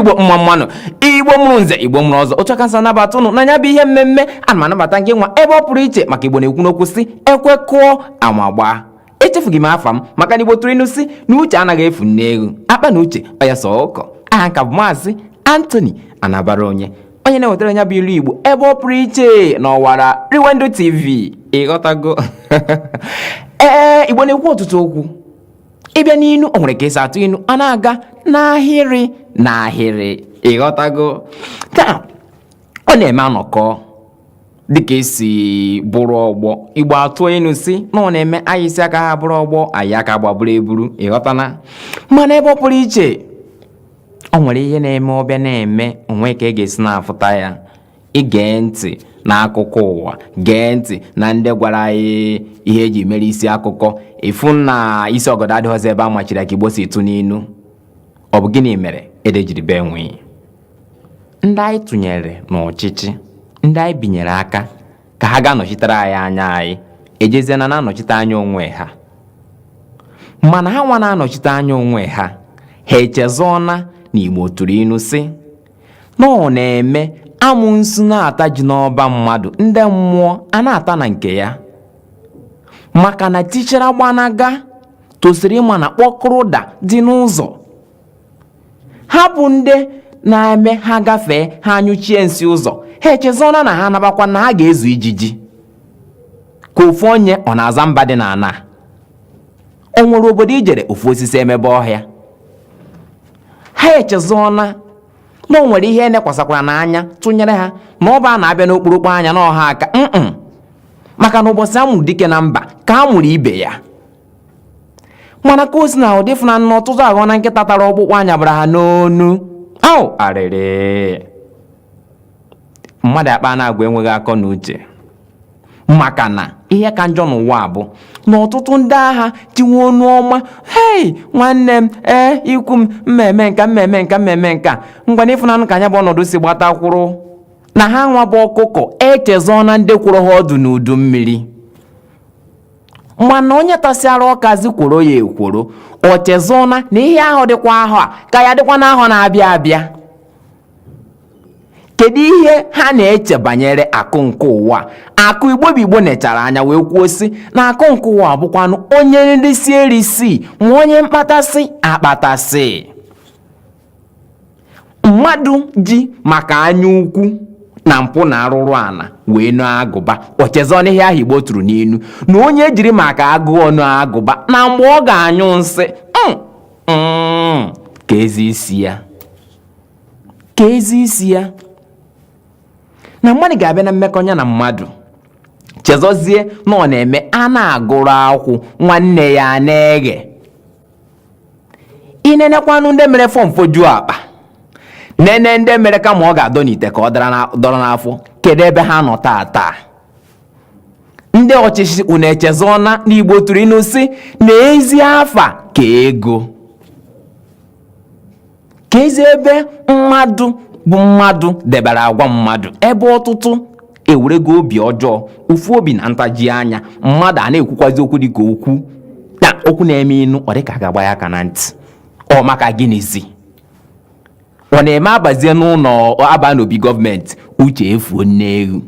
igbo mma mma nụ igbo mụrụ nze igbo mụrụ ọzọ otu a ka m si anabata ụnụ na nya bụ ihe mmemme ana m anabata gị nwa ebe ọ pụrụ iche maka igbo na-ekwu n'okwu sị ekwe kụọ ama agbaa echefughị m afa m maka na igbo tụrụ inu sị na uche anaghị efu n'egwu akpa na uche ọya sọ ụkọ aha m ka bụ maazị Anthony Anabaraonye onye na-ewetara nya bụ ilu igbo ebe ọ pụrụ iche n'ọwara Riwendo TV ị ghọtago ee igbo na-ekwu ọtụtụ okwu ị bịa n'inu o nwere ka e si atụ inu a na-aga n'ahịrị n'ahịrị ị ghọtago taa ọ na-eme a nọkọ dịka e si bụrụ ọgbọ igbo atụ inu sị na ọ na-eme anyị si aka ha bụrụ ọgbọ anyị aka gbaburu eburu ị ghọtana mana ebe ọ pụrụ iche o nwere ihe na-eme ọ bịa na-eme o nwe ka ị e ga-esi na-afụta ya i gee ntị n'akụkọ ụwa gee ntị na ndị gwara anyị ihe e ji mere isi akụkọ ị fụ na isi ọgọdọ adịghịzi ebe a machiri ka igbo si tụ n'inu ọ bụ gịnị mere ede jiri bee nwii ndị anyị tụnyere n'ọchịchị ndị anyị binyere aka ka ha ga-anọchitere anyị anya anyị ejezie na na-anọchite anya onwe ha mana ha nwa na-anọchite anya onwe ha ha echezọna na igbo tụrụ inu sị na ọ na-eme amụnsu na-ata ji n'ọba mmadụ ndị mmụọ a na-ata na nke ya maka na tichara gbanaga tosiri ịma na kpọkụrụ daa dị n'ụzọ ha bụ ndị na-eme ha gafee ha anyụchie nsị ụzọ ha echezọna na ha nabakwa na ha ga-ezu ijiji ka ofu onye ọ na-aza mba dị n'ana o nwere obodo i jere ofu osisi emebe ọhịa ha echezọna na o nwere ihe e nekwasakwara n'anya tụnyere ha na ọ bụ a na-abịa n'okpurukpu anya na ọha aka mm maka na ụbọchị a mụrụ dike na mba ka a mụrụ ibe ya mana ka o sina dị ị fụna na ọtụtụ aghọọna nkịta tara ọkpụkpụ a nyabara ha n'onu au arịrị mmadụ akpa na-agwa enweghị akọ na uche maka na ihe ka njọ n'ụwa bụ na ọtụtụ ndị agha tinwe onu ọma hei nwanne m ee ikwu m mmemme nka mmemme nka mmemme nka ngwana ị fụnanụ ka nya bụ ọnọdụ si gbata kwụrụ na ha nwa bụ ọkụkọ echezọọna ndị kwụrụ ha ọdụ n'udu mmiri mana onye tasịara ọkazi kworo ya ekworo o chezọna na ihe ahụ dịkwa ahọ a ka ya dịkwa n'ahọ na-abịa abịa kedu ihe ha na-eche banyere akụ nke ụwa akụ igbo bụ igbo nechara anya wee kwuo sị na akụ nke ụwa bụkwanụ onye nrisi erisi ma onye mkpatasị akpatasị mmadụ ji maka anya ukwu na mpụ na arụrụ ana wee noo agụba o chezọ n'ihe ahụ igbo tụrụ n'inu na onye jiri maka agụụ noo agụba na mgbe ọ ga-anyụ nsị mm, mm, keezi isi ya keezi isi ya na mmadụ ga-abịa na mmekọ nya na mmadụ chezọzie na ọ na-eme a na-agụrụ akwụ nwanne ya na-eghe ị nenekwanụ ndị mere fọm fojuo akpa nene ndị mere kama ọ ga-adọ n'ite ka ọ dọrọ n'afọ kedu ebe ha nọ taa taa ndị ọchịchị unu echezọna na igbo tụrụ inu sị na ezi afa ka ego keezi ebe mmadụ bụ mmadụ debere agwa mmadụ ebe ọtụtụ ewerego obi ọjọọ ụfụ obi na ntaji anya mmadụ a na-ekwukwazi okwu dị ka okwu na okwu na-eme inu ọ dịka a ga-agba ya aka na ntị ọ maka gịnịzi ọ na-eme a bazie n'ụnọ a ba n'obi gọọmenti uche efuo nne eghu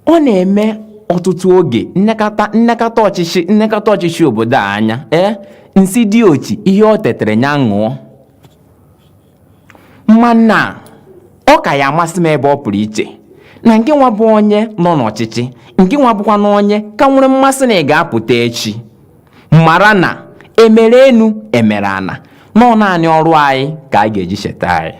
ọ na-eme ọtụtụ oge m nekata ọchịchị m nekata ọchịchị obodo a anya ee m sị di ochi ihe o tetere nya ṅụọ mana ọ ka ya amasị m ebe ọ pụrụ iche na nke nwa bụ onye nọ n'ọchịchị nke nwa bụkwanụ onye ka nwere mmasị na ị ga-apụta echi mara na emere enu emere ana na ọ naanị ọrụ anyị ka a ga-eji cheta anyị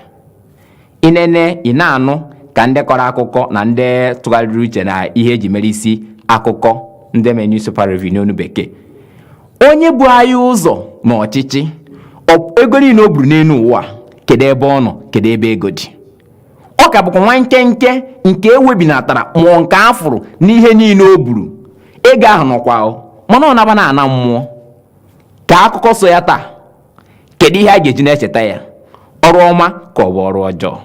inene ị na-anụ ka ndị kọrọ akụkọ na ndị tụgharịrị uche na ihe eji mere isi akụkọ ndị mere newspaper review n'onu bekee onye bu anyị ụzọ na ọchịchị ego niile o buru n'enu ụwa kedu ebe ọ nọ kedu ebe ego dị ọ ka bụkwa nwa nkenke nke ewebinatara mụọ nke a fụrụ n'ihe niile o buru ego ahụ nọkwa mana ọ naba na ana mmụọ ka akụkọ so ya taa kedu ihe a ga-eji na-echeta ya ọrụ ọma ka ọ bụ ọrụ ọjọọ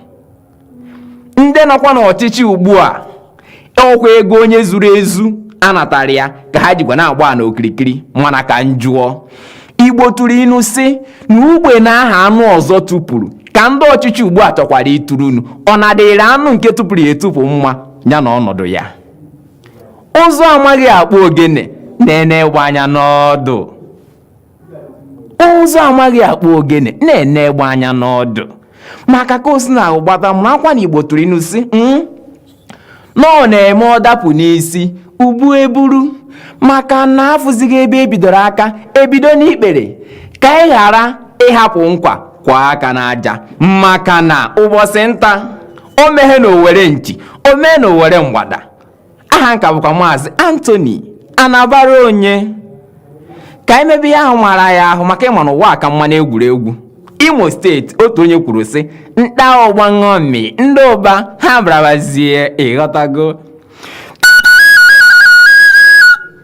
ndị nọkwa n'ọchịchị ugbu a ọkwa ego onye zuru ezu anatara ya ka ha jikwa na-agba na okirikiri mana ka m jụọ igbo tụrụ inu sị na ugbene ahụ anụ ọzọ tupuru ka ndị ọchịchị ugbu a chọkwara ituru unu ọ na-adịrị anụ nke tupuru ya etupu mma ya na ọnọdụ ya ụzụ amaghị akpụ ogene na-ene egbe anya n'ọdụ ụzụ amaghị akpụ ogene na-ene egbe anya n'ọdụ maka ka o si n'agbata mụrụ akwa na igbo tụrụ inu sị hmm? na ọ na-eme ọ dapụ n'isi ubu eburu maka na a fụzighị ebe e bidoro aka e bido n'ikpere ka ị ghara ịhapụ nkwa kụwa aka n'aja maka na ụbọchị nta o meghe na owere nchi o mee na owere mgbada aha m ka bụkwa maazị Anthony Anabaraonye ka e mebe ya ahụ mara ya ahụ maka ị ma na ụwa aka mma n'egwuregwu imo steeti otu onye kwuru sị nta ọgba ṅomi ndị ụba ha brabazie ị ghọtago